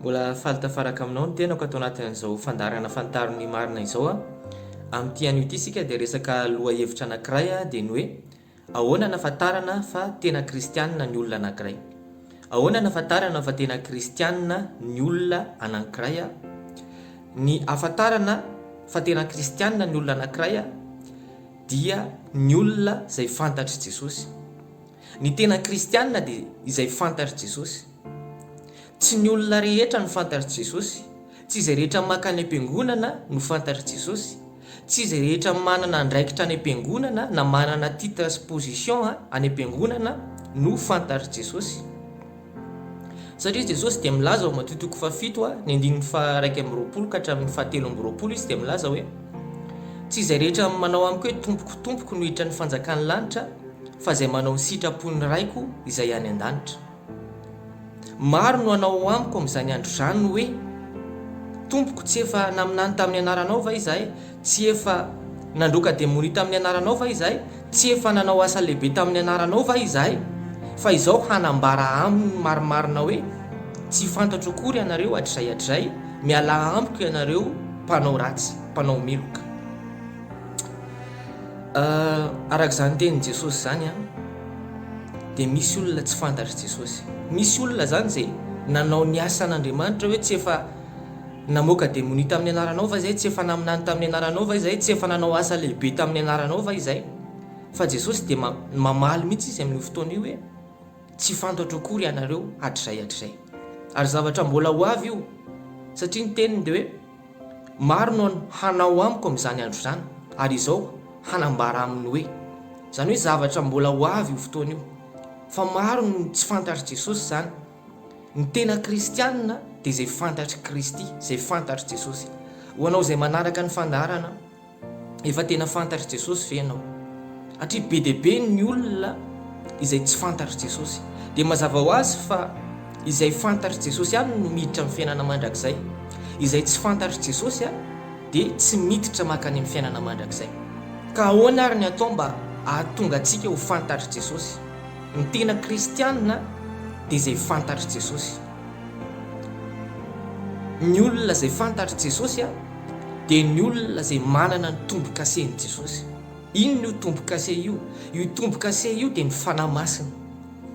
Mbola faly tafaraka aminao ny tenako ato anatin'izao fandaharana Fantaro ny marina izao a! Amin'ity anio ity isika dia resaka lohahevitra anankiray dia ny hoe Ahoana anafantarana fa tena kristianina ny olona anankiray? Ahoana anafantarana fa tena kristianina ny olona anankiray a? Ny ahafantarana fa tena kristianina ny olona anankiray a! dia ny olona izay fantatr'i Jesosy. Ny tena kristiana dia izay fantatr'i Jesosy. Tsy ny olona rehetra no fantatr'i Jesosy, tsy izay rehetra maka any am-piangonana no fantatr'i Jesosy, tsy izay rehetra manana andraikitra any am-piangonana na manana titre sy position any am-piangonana no fantatr'i Jesosy. Satria izy Jesosy dia milaza ao Matio toko fahafito a, ny andininy faha iraika amby roapolo ka hatramin'ny faha telo amby roapolo izy dia milaza hoe, Tsy izay rehetra manao amiko hoe Tompoko, Tompoko no hiditra ny fanjakan'ny lanitra, fa izay manao ny sitrapon'ny Raiko izay any an-danitra. Maro no hanao amiko amin'izany andro izany hoe, Tompoko, tsy efa naminany tamin'ny anaranao va izahay? Tsy efa nandroaka demonia tamin'ny anaranao va izahay? Tsy efa nanao asa lehibe tamin'ny anaranao va izahay? Fa izao hanambara aminy ny marimarina hoe, Tsy fantatro akory ianareo, hatrizay hatrizay, mialà amiko ianareo mpanao ratsy, mpanao meloka. Ah, araka izany tenin'i Jesosy izany an, dia misy olona tsy fantatr'i Jesosy. Misy olona izany izay nanao ny asan'Andriamanitra hoe tsy efa Namoaka demonia tamin'ny anaranao va izay? Tsy efa naminany tamin'ny anaranao va izay? Tsy efa nanao asa lehibe tamin'ny anaranao va izay? Fa Jesosy dia mamaly mihitsy izy amin'io fotoana io hoe, Tsy fantatro akory ianareo hatrizay hatrizay. Ary zavatra mbola ho avy io, satria ny teniny dia hoe, Maro no hanao amiko amin'izany andro izany, ary izao hanambara aminy hoe. Izany hoe zavatra mbola ho avy io fotoana io. Fa maro no tsy fantatr'i Jesosy izany. Ny tena kristianina dia izay fantatr'i Kristy, izay fantatr'i Jesosy. Ho anao izay manaraka ny fandaharana, efa tena fantatr'i Jesosy ve ianao? Hatria be dia be ny olona izay tsy fantatr'i Jesosy. Dia mazava ho azy fa izay fantatr'i Jesosy ihany no miditra amin'ny fiainana mandrakizay. Izay tsy fantatr'i Jesosy dia tsy miditra mankany amin'ny fiainana mandrakizay. Ka ahoana ary ny atao mba hahatonga antsika ho fantatr'i Jesosy? Ny tena kristianina dia izay fantatr'i Jesosy. Ny olona izay fantatr'i Jesosy dia ny olona izay manana ny tombo-kasen'i Jesosy. Inona io tombo-kase io? Io tombo-kase io dia ny Fanahy Masina.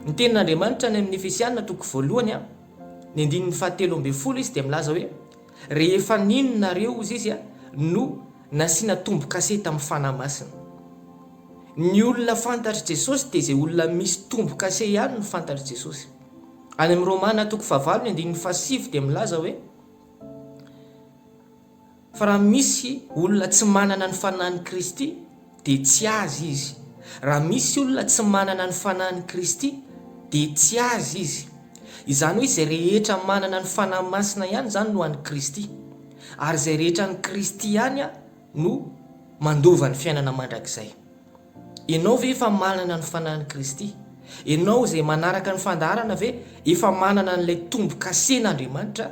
Ny tenin'Andriamanitra any amin'ny Efesiana toko voalohany, ny andininy fahatelo ambin'ny folo izy dia milaza hoe, Rehefa nino nareo, hozy izy, no Nasiana tombo-kase tamin'ny Fanahy Masina. Ny olona fantatr'i Jesosy dia izay olona misy tombo-kase ihany no fantatr'i Jesosy. Any amin'ny Romana toko fahavalo ny andininy fahasivy dia milaza hoe, Fa raha misy olona tsy manana ny Fanahin'i Kristy, dia tsy azy izy. Raha misy olona tsy manana ny Fanahin'i Kristy, dia tsy azy izy. Izany hoe izay rehetra manana ny Fanahy Masina ihany izany no an'i Kristy. Ary izay rehetra an'i Kristy ihany no mandova ny fiainana mandrakizay. Ianao ve efa manana ny Fanahin'i Kristy? Ianao izay manaraka ny fandaharana ve efa manana an'ilay tombo-kasen'Andriamanitra?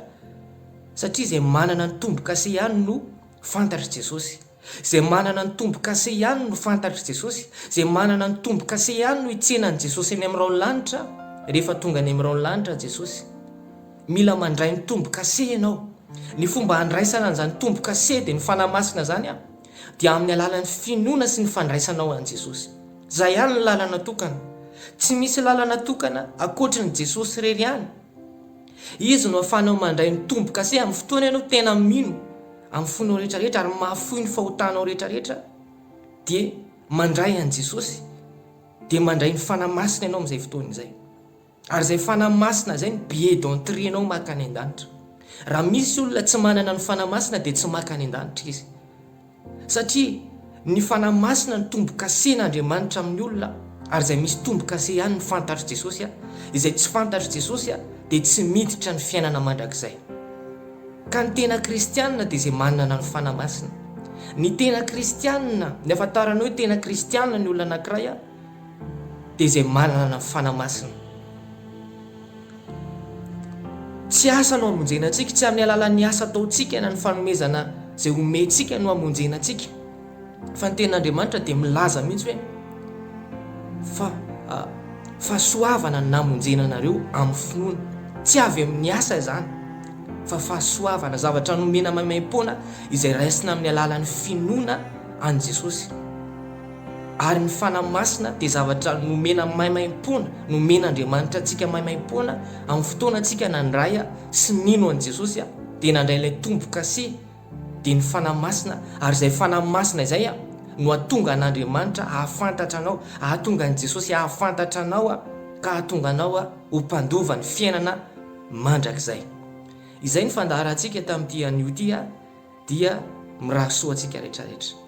Satria izay manana ny tombo-kase ihany no fantatr'i Jesosy. Izay manana ny tombo-kase ihany no fantatr'i Jesosy, izay manana ny tombo-kase ihany no hitsena an'i Jesosy any amin'ny raon'ny lanitra, rehefa tonga any amin'ny raon'ny lanitra Jesosy. Mila mandray ny tombo-kase ianao. Ny fomba handraisana an'izany tombo-kase dia ny Fanahy Masina izany an, dia amin'ny alalan'ny finoana sy ny fandraisanao an'i Jesosy. Izay ihany ny lalana tokana. Tsy misy lalana tokana ankoatry ny Jesosy irery ihany. Izy no ahafahanao mandray ny tombo-kase amin'ny fotoana ianao tena mino amin'ny fonao rehetra rehetra ary mahafoy ny fahotanao rehetra rehetra dia mandray an'i Jesosy dia mandray ny Fanahy Masina ianao amin'izay fotoana izay. Ary izay Fanahy Masina izay no billet d'entrée nao maka any an-danitra. Raha misy olona tsy manana ny Fanahy Masina dia tsy maka any an-danitra izy. Satria ny Fanahy Masina no tombo-kasen' Andriamanitra amin'ny olona, ary izay misy tombo-kase ihany ny fantatr'i Jesosy, izay tsy fantatr'i Jesosy dia tsy miditra ny fiainana mandrakizay. Ka ny tena kristianina dia izay manana ny Fanahy Masina. Ny tena kristianina, ny ahafantarana hoe tena kristianina ny olona anankiray, dia izay manana fanahy masina. Tsy asa no hamonjena antsika, tsy amin'ny alalan'ny asa ataontsika na ny fanomezana izay omentsika no hamonjena antsika, fa ny tenin'Andriamanitra dia milaza mihitsy hoe fa ah, fahasoavana no namonjena anareo amin'ny finoana. Tsy avy amin'ny asa izany fa fahasoavana, zavatra nomena maimaim-poana izay raisina amin'ny alalan'ny finoana an'i Jesosy. Ary ny Fanahy Masina dia zavatra nomena maimaimpoana, nomen'Andriamanitra antsika maimaimpoana amin'ny fotoana antsika nandray sy nino an'i Jesosy dia nandray ilay tombo-kase, dia ny Fanahy Masina, ary izay Fanahy Masina izay no hahatonga an'Andriamanitra hahafantatra anao, hahatonga an'i Jesosy hahafantatra anao ka hahatonga anao ho mpandova ny fiainana mandrakizay. Izay ny fandaharantsika tamin'ity anio ity. Dia mirary soa antsika rehetra rehetra.